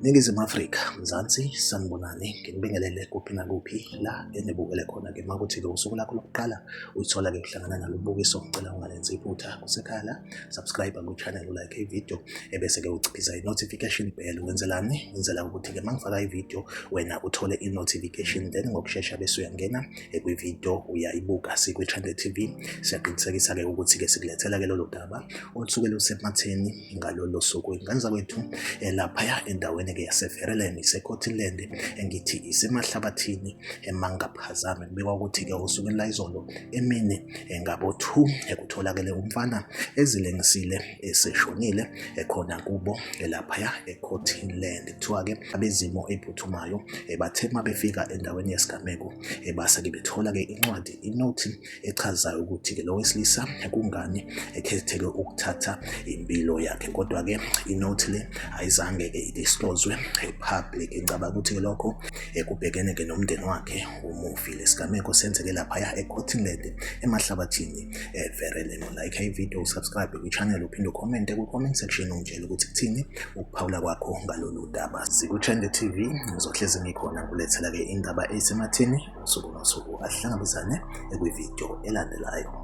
Ningizimu Afrika, Mzansi, sanibonani, nginibingelele kuphi nakuphi la enibukele khona-ke uma kuthi-ke usuku lakho lokuqala uyithola-ke kuhlangana nalo bukiso, ngicela ungalenzi iphutha kusekhaya la, subscribe ku-channel, ulike ividiyo ebese-ke uciphiza i-notification bell. Wenzelani? Wenzela ukuthi-ke uma ngifaka ividiyo wena uthole i-notification then ngokushesha bese uyangena ekwividiyo uyayibuka sikwi-trend tv siyaqinisekisa-ke ukuthi-ke sikulethela-ke lolo daba olusuke lusematheni ngalolo suku inganza kwethu laphaya endaweni-ke yaseverelem isecotiland engithi isemahlabathini emangaphazame kubikwa ukuthi-ke usuku elayizolo emini ngabo-two ekutholakele umfana ezilengisile eseshonile ekhona kubo laphaya ecotiland kuthiwa-ke abezimo ephuthumayo eh, bathe uma befika endaweni yesigameko eh, base-ke bethola-ke incwadi inothi echazayo ukuthi-ke lo wesilisa kungani ekhetheke ukuthatha impilo yakhe kodwa-ke inothi le ayizange-ke idiscloswe eh, public ngicabanga ukuthi-ke lokho kubhekene-ke nomndeni wakhe umufi lesigameko senzeke laphaya ecotinland emahlabathini eh, vere lelo like ivideo usubscribe kwichannel uphinde ukhomente kwi-comment section ungitshele ukuthi kuthini ukuphawula kwakho ngalolu daba sikuthende tv ngizohlezi ngikhona kulethela-ke indaba eyisemathini usuku nosuku asihlangabezane ekwivideo elandelayo